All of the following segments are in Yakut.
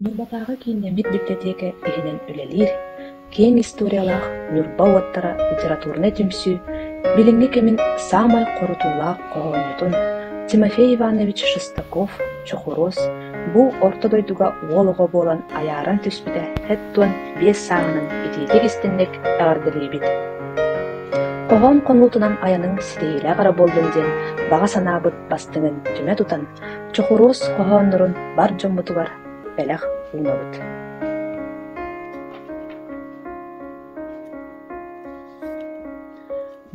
Ньурбатааҕы кииннэммит библиотека иһинэн үлэлиир киэҥ историялаах Ньурба уоттара литературнай түмсүү билиҥҥи кэмин саамай хорутуулаах хоһоонньутун Тимофей Иванович Шестаков «Чохуруос» бу орто дойдуга уол оҕо буолан айааран түспүтэ сэттуон биэс сааһынан итиитик-истиҥник эҕэрдэлиибит хоһоон хонуутунан айаныҥ ситиһиилээх эрэ буоллун диэн баҕа санаабыт бастыҥын түмэ тутан Чокуруос хоһооннорун бар дьоммутугар бэлэх уунабыт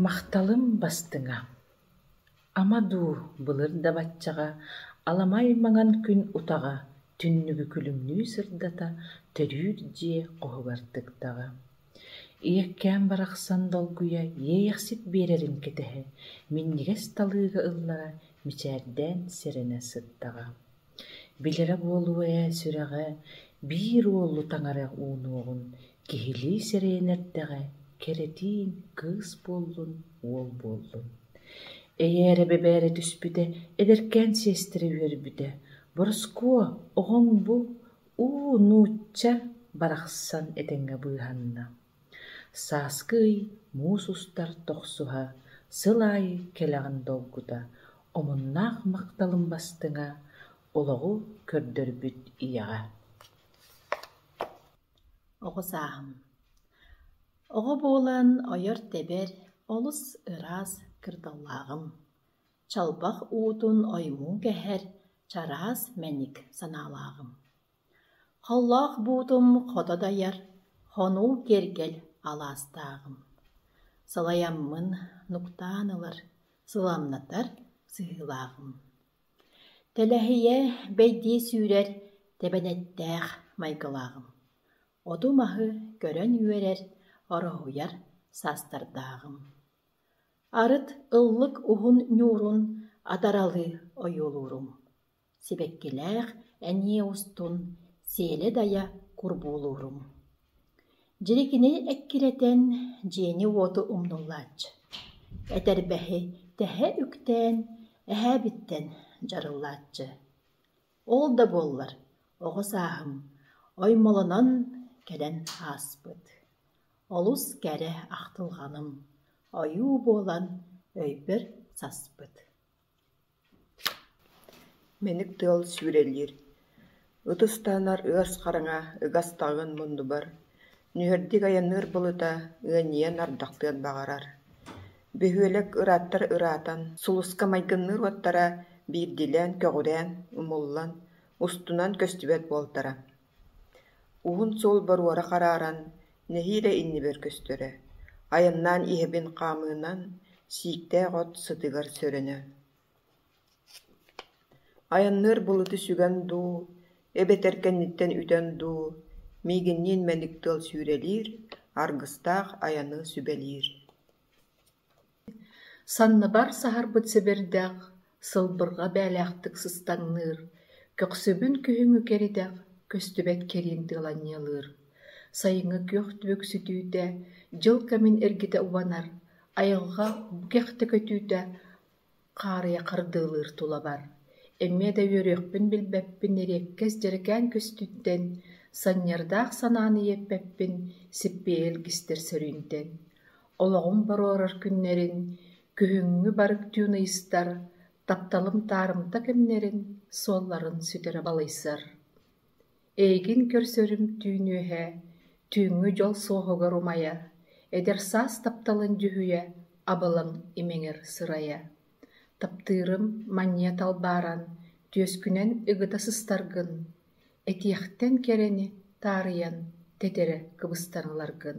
Махталым бастыҥа, ама дуу былыр да баччаҕа аламай маҥан күн утаҕа түннүгү күлүмнүү сырдата төрүүр дьиэ хоһугар тыктаҕа Ийэккээн барахсан долгуйа иэйэхсит биэрэрин кэтэһэ, минньигэс талыыга ыллара мичээрдээн сэрэнэ сыттаҕа. Билэрэ буолуо ээ сүрэҕэ биир уолу таҥара уунуоҕун, киһилии сэрэйэн эрдэҕэ кэрэтиин кыыс буоллун, уол буоллун. Эйээрэ бэбээрэ түспүтэ, эдэркээн сиэстэрэ үөрбүтэ: «Бороскуо, оҕоҥ бу уу нуучча барахсан этэҥҥэ быыһанна, сааскы ый муус устар тохсуһа, сыл аайы кэлэҕин долгута, омуннаах махталым бастыҥа, олоҕу көрдөрбүт ийэҕэ Оҕо сааһым Оҕо буолан ойор-тэбэр, олус ыраас кырдаллааҕым. Чалбах уутун ойуун кэһэр, чараас мэник санаалааҕым. Холлоох буутум хото дайар, хонуу киэргэл алаастааҕым. Сылайаммын нуктаан ылар, сыламнатар сыһыылааҕым. Тэлэһийэ бэйдии сүүрэр, тэбэнэттээх майгылааҕым. Оту маһы көрөн үөрэр, ороһуйар саастардааҕым. Арыт ыллык уһун ньуурун атаралыы ойуолуурум, сибэккилээх эмиэ устун сиэлэ-дайа курбуулуурум. Дьири кини эккирэтэн, дьиэни-уоту умнуллааччы, этэрбэһи тэһэ үктээн, эһээбиттэн дьарыллааччы Ол да буоллар, оҕо сааһым оймолонон кэлэн ааспыт, олус кэрэ ахтылҕаным, ойуу буолан өйбөр саспыт Мэник тыал сүүрэлиир, ытыс таһынар ыас хараҥа ыгастаҕын муннубар Нүһэрдик айанныыр былыта ыанньыйан ардахтыан баҕарар. Бөһүөлэк ырааттар ыраатан, сулуска майгынныыр уоттара биирдиилээн көҕүрээн, умуллан, устунан көстүбэт буолтара. Уһун суол боруора харааран, нэһиилэ иннибэр көстөрө. Айаннаан иһэбин хаамыынан, сииктээх от сытыгар сөрөнө Айанныыр былыты сүгэн дуу, эбэтэр кэнниттэн үтэн дуу, миигинниин мэник тыал сүүрэлиир, аргыстаах айаны сүбэлиир Санныбар саһарбыт сэбирдэх, сылбырҕа бээлээхтик сыстаҥныыр, көхсөбүн күһүҥҥү кэритэх, көстүбэт кэриин тыаланньылыыр. Сайыҥҥы күөх түбүксүтүүтэ, дьыл кэмин эргитэ убанар, айылҕа бу кэхтэ көтүүтэ хаарыйа хардыылыыр тулабар, эмиэ да үөрүөхпүн билбэппин ириэккэс дьэрикээн көстүүттэн, санньардаах санааны иэппэппин сиппиэ илгистэр сөрүүнтэн, олоҕум боруорар күннэрин, күһүҥҥү барык түүн ыйыстар, тапталым таарымта кэмнэрин суолларын сүтэрэ балыйсар Эйигин көрсөрүм түүнүөһэ, түүҥҥү дьол суоһугар умайа, эдэр саас тапталын дьүһүйэ, абылаҥ имэҥэр сырайа. Таптыырым манньыат албааран, түөскүнэн ыгыта сыстаргын, этиэхтэн кэрэни таарыйан, тэтэрэ кыбыстан ыларгын.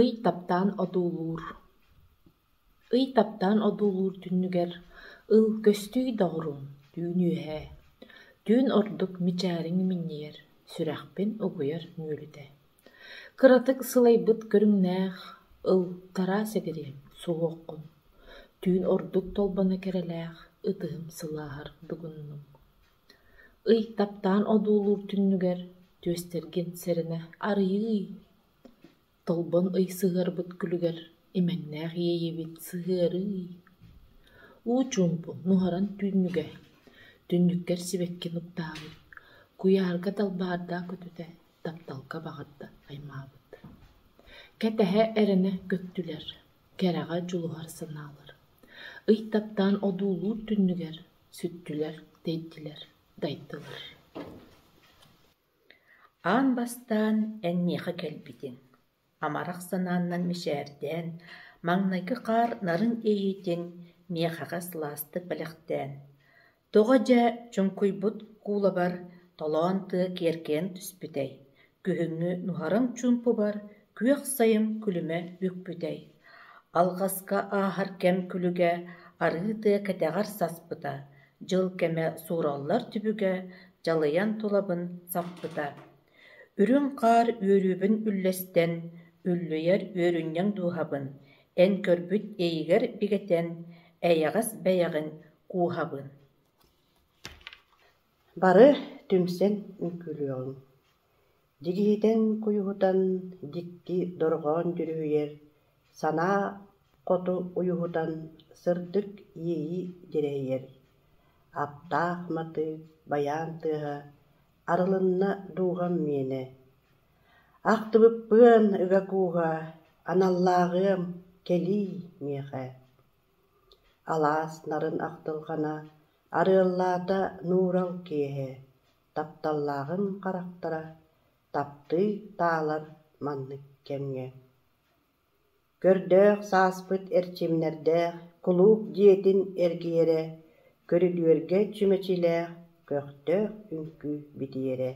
Ый таптаан одуулуур Ый таптаан одуулуур түннүгэр Ыл көстүү доҕоруҥ түүн үөһэ, Түүн ордук мичээриҥ минньийэр, Сүрэхпин угуйар мүөлүтэ. Кыратык сылайбыт көрүҥнээх Ыл тараа сэгириэм суһуоххун, Түүн ордук толбоно кэрэлээх Ытыһым сылааһар дугуннуҥ. Ый таптаан одуулуур түннүгэр түөстэргин сэрэнэ арыйыы, толбон ый сыһыарбыт күлүгэр имэҥнээх иэйиибит сыһыарыы, уу чуумпу нуһаран түүннүгэ, түннүккэр сибэкки нуктааҕы, куйаарга далбаардаах көтүтэ тапталга баҕарда аймаабыт. Кэтэһэ эрэнэ көттүлэр, кэрэҕэ дьулуһар санаалар. Ый таптаан одуулуур түннүгэр Сүттүлэр, тэйдилэр, дайдылар Аан бастаан эн миэхэ кэлбитиҥ, амарах санааннан мичээрдээн, маҥнайгы хаар нарын иһиитин миэхэҕэ сылаастык бэлэхтээн, тоҕо дьэ чуҥкуйбут куулабар толоон тыа киэркэйэн түспүтэй Күһүҥҥү нуһараҥ чуумпубар күөх сайым күлүмэ бүкпүтэй, алҕаска ааһар кэм күлүгэ арыы тыа кэтэҕэр саспыта, дьыл кэмэ суураллар түбүгэ дьалыйан тулабын саппыта. Үрүҥ хаар үөрүүбүн үллэстэн, үллүйэр үөрүнньэҥ дууһабын, эн көрбүт иэйигэр бигэтэн, эйэҕэс бэйэҕин кууһабын Бары түмсэн үҥкүүлүөҕүҥ, дьик иһитэн-куйуһутан дьикти дорҕоон дьүрүһүйэр санаа хоту уйуһутан сырдык иэйии дьирэһийэр аптаах матыып байаан тыаһа арылынна дууһам миэнэ, ахтыбыппыан ыга кууһа аналлааҕыам кэлиий миэхэ. Алаас нарын ахтылҕана арыаллаата нуурал киэһэ, тапталлааҕыҥ харахтара таптыы таалар маннык кэмҥэ. Көрдөөх сааспыт эрчимнэрдээх кулууп дьиэтин эргийэрэ, көрүдүөргэ чүмэчилээх көхтөөх үҥкүү битийэрэ.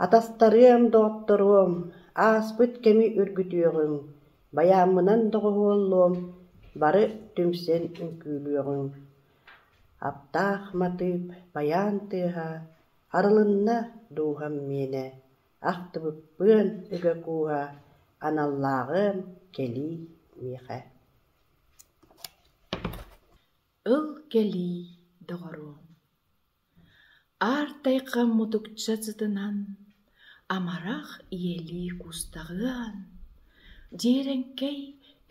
Атастарыам, доҕотторуом, ааспыт кэми үргүтүөҕүҥ Байааммынан доҕуһуоллуом, бары түмсэн үҥкүүлүөҕүҥ Аптаах матыып байаан тыаһа Арылынна дууһам миэнэ Ахтыбыппыан ыга кууһа Аналлааҕыам кэлии миэхэ Ыл кэлии, доҕоруом Аартайга мутукча сытынан, амарах ийэлии куустаҕыан, дьиэрэҥкэй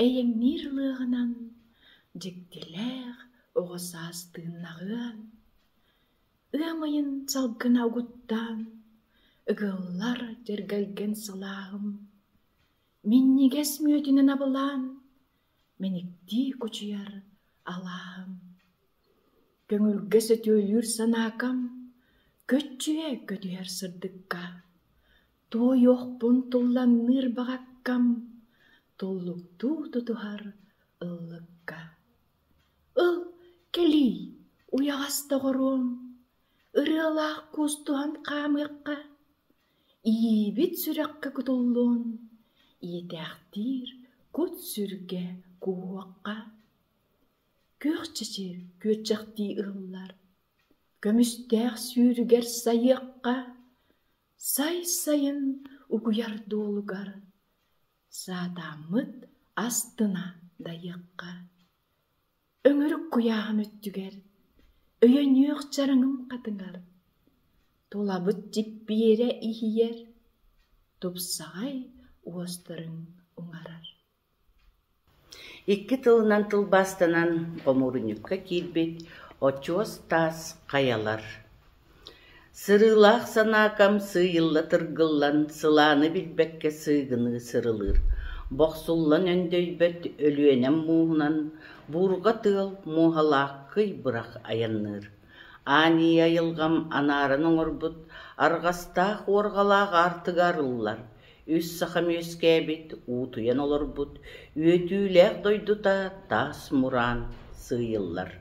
эйэҥниир ылыаҕынан дьиктилээх оҕо саас тыыннаҕыан, ыам ыйын салгына угуттаан, ыгыллар дьэргэлгэн салааҕым, минньигэс мүөтүнэн абылаан, мэниктии кучуйар алааһым, көҥүлгэ сөтүөлүүр санаакам, көччүйэ көтүһэр сырдыкка, туойуохпун тулланныыр баҕаккам, туллуктуу тутуһар ыллыкка. Ыл кэлий, уйаҕас доҕоруом, ырыалаах куустуһан хаамыахха. Ийэбит сүрэххэ кутуллуон, ийэтээхтиир кут-сүргэ кууһуохха. Күөх чэчи күөрчэхтии ыһыллар, көмүстээх сүүрүгэр сайыахха, сай сайын угуйар дуолугар саатааммыт астына дайыахха. Өҥүрүк куйааһым өттүгэр өйө нүөх чараҥым хатыҥар тулабыт дьиппиэрэ иһийэр тупсаҕай уостарын уҥарар Икки тылынан тылбаастанан хомуурунньукка киирбит очуос таас хайалар Сырыылаах санаа хамсыы-ылла тыргыллан, сылааны билбэккэ сыыгыныы сырылыыр, бохсуллан өндөйбөт Өлүөнэм мууһунан буурҕа тыал муоһалаах кый бырах айанныыр, аанньыйа айылҕам анааран оҥорбут арҕастаах уорҕалаах аартыга арыллар Үс сахам үөскээбит, уутуйан олорбут, үөтүүлээх дойдута таас мураан сыыйыллар.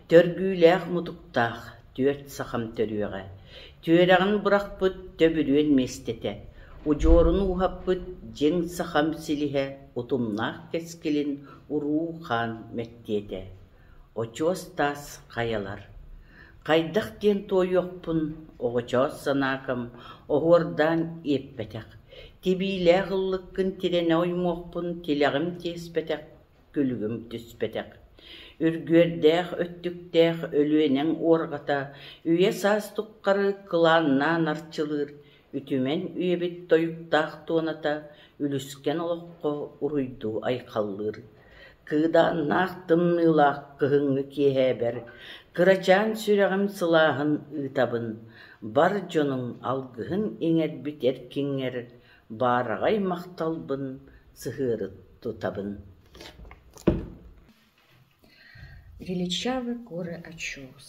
Төргүүлээх-мутуктаах түөрт сахам төрүөҕэ. Түөрэҕин бырахпыт төбүрүөн миэстэтэ. Удьуорун ууһаппыт дьиҥ сахам силиһэ, утумнаах кэскилин уруу хаан мэктиэтэ. Очуос таас хайалар Хайдах диэн туойуохпун оҕочоос санаакам оһуордаан иэппэтэх, тибиилээх ыллыккын тирэнэ оймуохпун тилэҕим тиэспэтэх, күлүгүм түспэтэх. Үргүөрдээх өттүктээх Өлүөнэҥ уорҕата үйэ саас туххары кылааннаан арчылыыр Үтүмэн үйэбит тойуктаах туоната үлүскэн олоххо уруйдуу айхаллыыр, кыыдааннаах тымныылаах кыһыҥҥы киэһээбэр кырачаан сүрэҕим сылааһын ыытабын, бар дьонум алгыһын иҥэрбит эркиҥҥэр баараҕай махталбын сыһыарыт тутабын Величавый горы Очоус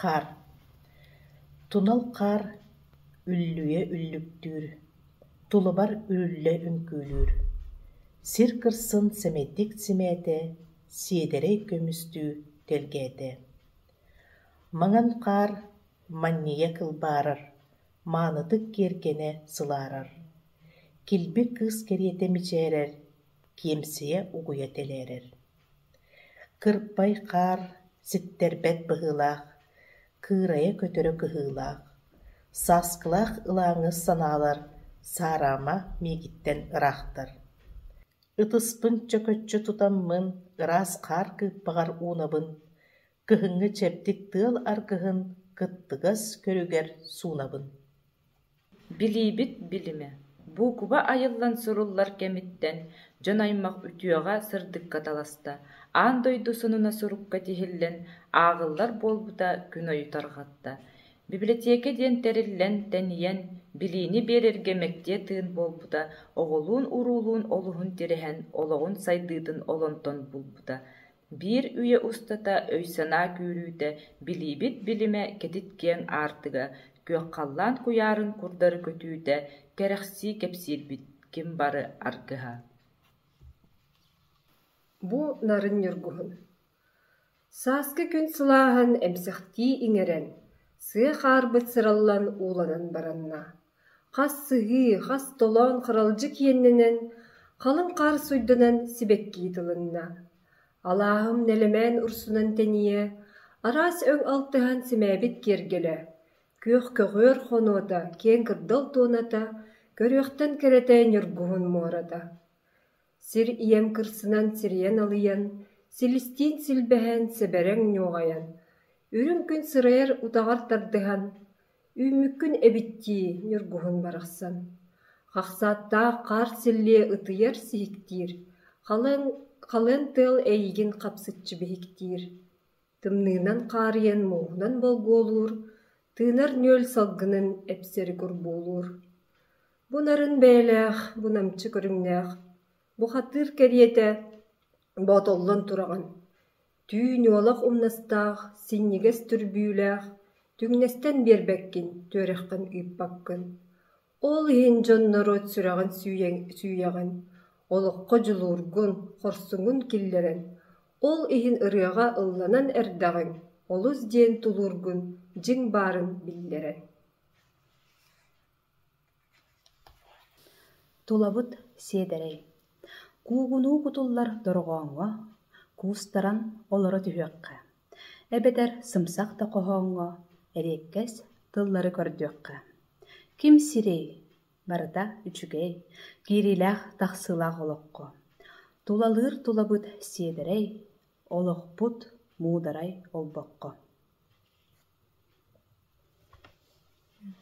Хаар Тунал хаар үллүйэ үллүктүүр, тулубар үрүллэ үҥкүүлүүр, сир кырсын сэмэйдик симээтэ, сиэдэрэй көмүстүү тэлгээтэ. Маҥан хаар манньыйа кылбаарар, маанытык киэргэнэ сылаарар, килби кыыс кэриэтэ мичээрэр, киэмсийэ угуйа тэлээрэр Кырпай хаар ситтэрбэт быһыылаах, кыырайа-көтөрө кыһыылаах, сааскылаах ылааҥы санаалар саараама миигиттэн ыраахтар. Ытыспын чөкөччү тутаммын ыраас хаар кыыппаҕар уунабын Кыһыҥҥы чэбдик тыал аргыһын кыттыгас көрүгэр суунабын Билиибит билимэ, буукуба айыллан суруллар кэмиттэн дьон-аймах үтүөҕэ сырдыкка таласта, аан дойду сонуна сурукка тиһиллэн ааҕыллар буолбута күн ой тарҕатта. Библиотека диэн тэриллэн, тэнийэн, билиини биэрэргэ мэктиэ тыын буолбута оҕолуун-уруулуун олуһун тирэһэн олоҕун сайдыытын олонтон булбута. Биир үйэ устата өй-санаа күүрүүтэ, билиибит билимэ кэтит киэҥ аартыга, күөх-халлаан куйаарын курдары көтүүтэ, кэрэхсии кэпсиирбит ким бары аргыһа Бу нарын ньургуһун Сааскы күн сылааһын эмсэхтии иҥэрэн, сыа хаарбыт сыраллан ууланан баранна. Хас сыһыы, хас толоон харалдьык иэннэнэн, халыҥ хаар суйданан сибэккии тылынна. Алааһым нэлэмээн урсунан тэнийэ, араас өҥ алтыһан симээбит киэргэлэ, күөх көҕүөр хонуота, киэҥ кырдал туоната, көрүөхтэн кэрэтэ ньургуһун муората Сир ийэм кырсынан сирийэн алыйан, силистиин силбэһэн, сэбэрэҥ ньуоҕайан, үрүҥ күн сырайар утаҕар тардыһан, үүммүккүн эбиттии ньургуһун барахсан, хахсааттаах хаар силлиэ ытыйар сиһиктиир, халыҥ халыан тыал эйиигин хапсыччы биһиктиир, тымныынан хаарыйан мууһунан болгуолуур, тыынар нүөл салгынын эпсэри курбуулуур. Бу нарын бэйэлээх, бу намчы көрүҥнээх, бу хатыыр кэриэтэ боотоллон тураҕын, түү ньуолах умнастаах, синньигэс түрбүүлээх, түҥнэстэн биэрбэккин, түөрэххин ыыппаккын. Ол иһин дьонноруот сүрэҕин сүүйэҕин, олоххо дьулуургун, хорсуҥун киллэрэн, ол иһин ырыаҕа ылланан эрдэҕиҥ олус диэн тулуургун дьиҥ баарын биллэрэн Тулабыт сиэдэрэй, куугунуу кутуллар дорҕооҥҥо куустаран олоро түһүөххэ, эбэтэр сымсах да хоһооҥҥо эриэккэс тыллары көрдүөххэ. Ким сирэй, барыта үчүгэй, киириилээх-тахсыылаах олоххо. Тулалыыр тулабыт сиэдэрэй, олохпут муударай олбоххо